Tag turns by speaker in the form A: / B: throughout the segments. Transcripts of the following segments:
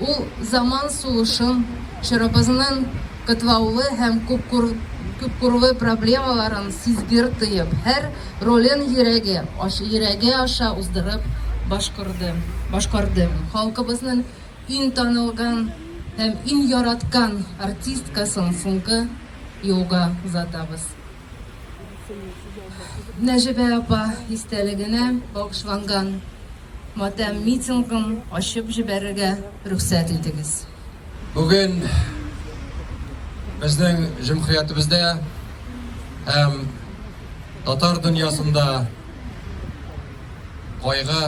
A: Ул заман сулышын, чорыбызның катлаулы һәм күпкурлы проблемаларын сизгер тоеп, һәр ролен йөрәге аша уздырып башкарды. Халкыбызның иң танылган һәм иң яраткан артисткасын соңгы юлга озатабыз. Нәҗибә апа истәлегенә багышланган матәм митингын ачып җибәрергә рөхсәт итегез. Бүген
B: безнең җөмхиятебездә һәм татар дөньясында кайгы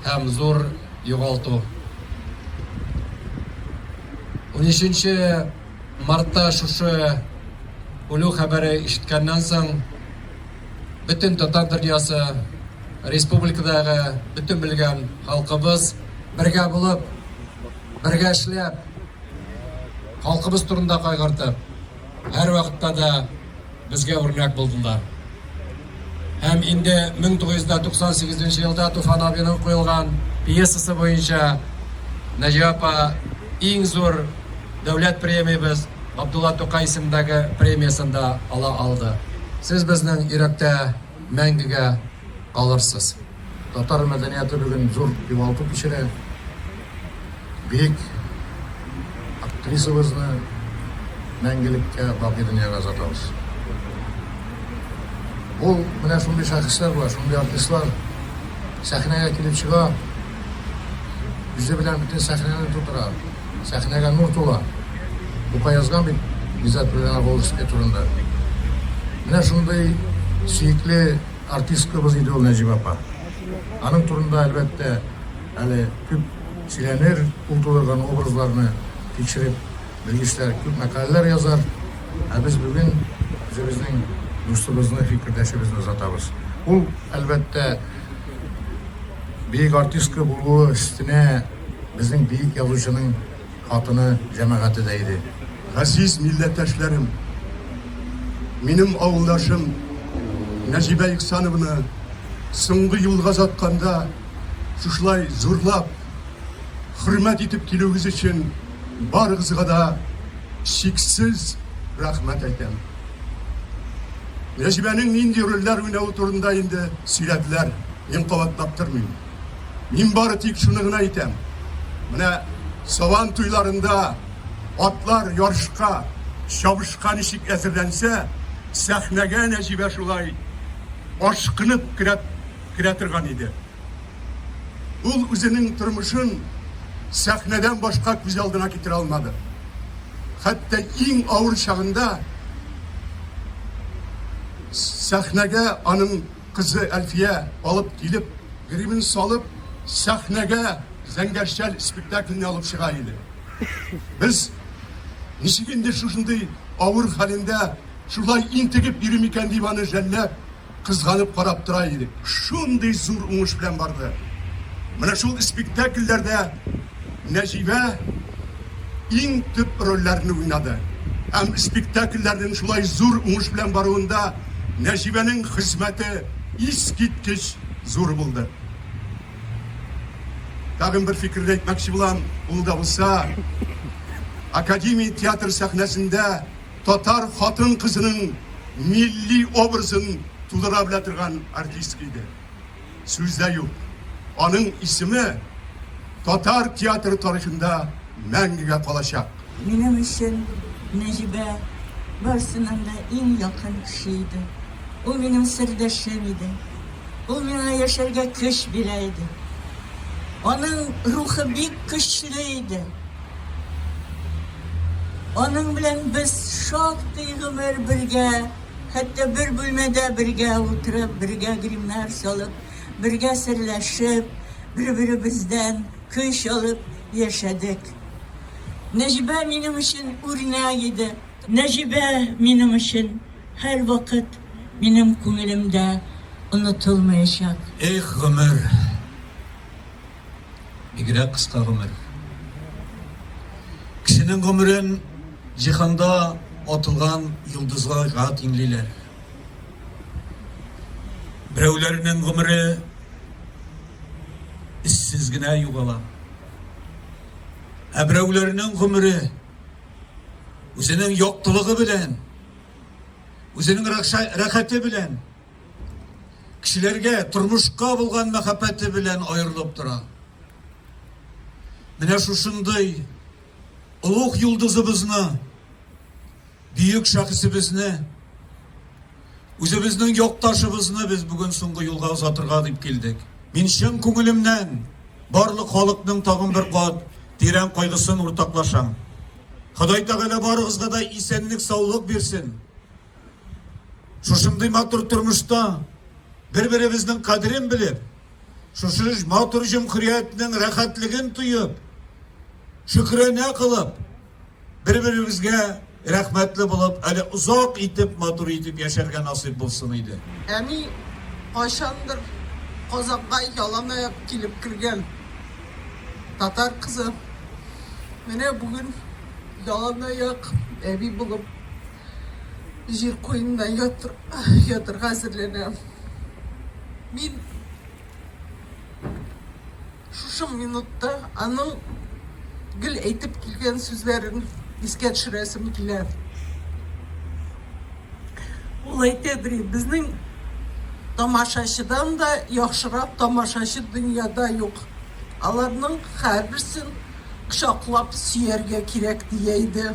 B: һәм зур югалту. 13 Мартта шушы үлү хәбәре ишеткәннән соң, бөтен татар дөньясы, республикадагы бөтен белгән халкыбыз бергә булып, бергә эшләп, халкыбыз турында кайгыртып, һәрвакытта да Безгә үрнәк булдылар. Һәм инде 1998 елда Туфан абиның куелган пьесасы буенча Наҗия апа иң зур дәүләт премиябез Габдулла Тукай исемендәге премиясен дә ала алды. Сез безнең йөрәктә мәңгегә калырсыз. Татар мәдәнияте бүген зур югалту кичерә. Бөек актрисабызны мәңгелеккә бакый дөньяга озатабыз. Бу менә шундый шәхесләр бар, шундый артистлар сәхнәгә килеп чыга, үзе белән бөтен сәхнәне тутыра, сәхнәгә нур тула. Бу язган бит Гизат Петрович турында. Менә шундый сөекле Артисткабыз иде ул Нәҗибә апа. Аның турында, әлбәттә, әле күп сөйләнер, ул тудырган образларны тикшереп белгечләр күп мәкаләләр язар. Ә без бүген үзебезнең дустыбызны, фикердәшебезне озатабыз. Ул, әлбәттә, бөек артистка булуы өстенә безнең бөек язучының. Хатыны, җәмәгате дә иде. Газиз
C: милләттәшләрем! Минем авылдашым Нәҗибә Ихсанованы соңгы юлга озатканда шушылай зурлап, хөрмәт итеп килүегез өчен барыгызга да чиксез рәхмәт әйтәм. Нәҗибәнең нинди рольләр уйнавы турында инде сөйләделәр, мин кабатлап тормыйм. Мин бары тик шуны гына әйтәм, менә Сабан туйларында атлар ярышка, чабышка ничек әзерләнсә, сәхнәгә Нәҗибә шулай ашкынып керә, керә торган иде. Ул үзенең тормышын сәхнәдән башка күз алдына китерә алмады. Хәтта иң авыр чагында сәхнәгә аның Кызы Әлфия алып килеп, гримын салып, сәхнәгә Зәңгәрчәл спектакльне алып чыга иде. Без, ничек инде шушындый авыр хәлендә шулай интегеп йөри микән дип аны жәлләп, кызганып карап тора идек. Шундый зур уңыш белән барды. Менә шул спектакльләрдә Нәҗибә. иң төп рольләрне уйнады һәм спектакльләрнең шулай зур уңыш белән баруында Нәҗибәнең хезмәте искиткеч зур булды. Тагын бер фикерне әйтмәкче булам, ул да булса, Академия театры сәхнәсендә татар хатын-кызының милли образын тудыра белә торган артистка иде. Сүз дә юк, аның исеме татар театры тарихында мәңгегә калачак. Минем өчен
D: Нәҗибә барысыннан да иң якын кеше иде. Ул минем сердәшем иде. Ул миңа яшәргә көч бирә иде. Аның рухы бик көчле иде. Аның белән без шактый гомер бергә. Хәтта бер бүлмәдә бергә утырып, бергә гримнар салып, бергә серләшеп, бер-беребездән көч алып яшәдек. Нәҗибә минем өчен үрнәк иде. Нәҗибә минем өчен һәрвакыт минем күңелемдә онытылмаячак. Эх,
E: гомер! Бигрәк кыска гомер. Кешенең гомерен җиһанда атылган йолдызларга тиңлиләр. Берәүләрнең гомере эзсез генә югала. Ә берәүләрнең гомере үзенең яктылыгы белән, үзенең рәхәте белән Кешеләргә, тормышка булган мәхәббәте белән аерылып тора. Менә шушындый олуг йолдызыбызны, бөек шәхесебезне, үзебезнең якташыбызны без бүген соңгы юлга озатырга дип килдек. Мин чын күңелемнән барлык халыкның тагын бер кат тирән кайгысын уртаклашам. Ходай Тәгалә барыгызга да исәнлек-саулык бирсен. Шушындый матур тормышта бер-беребезнең кадерен белеп, шушы матур җөмхүриятнең рәхәтлеген тоеп, шөкрәнә кылып, бер-беребезгә рәхмәтле булып, әле озак итеп, матур итеп яшәргә насыйп булсын иде. Әни
F: кайчандыр Казанга яланаяк килеп кергән татар кызы менә бүген яланаяк әби булып җир куенына ятырга әзерләнә. Мин шушы минутта аның гел әйтеп килгән сүзләрен искә төшерәсем килә. Ул әйтә, ди, безнең тамашачыдан да яхшырак тамашачы дөньяда юк. Аларның һәрберсен кочаклап сөяргә кирәк, дия иде.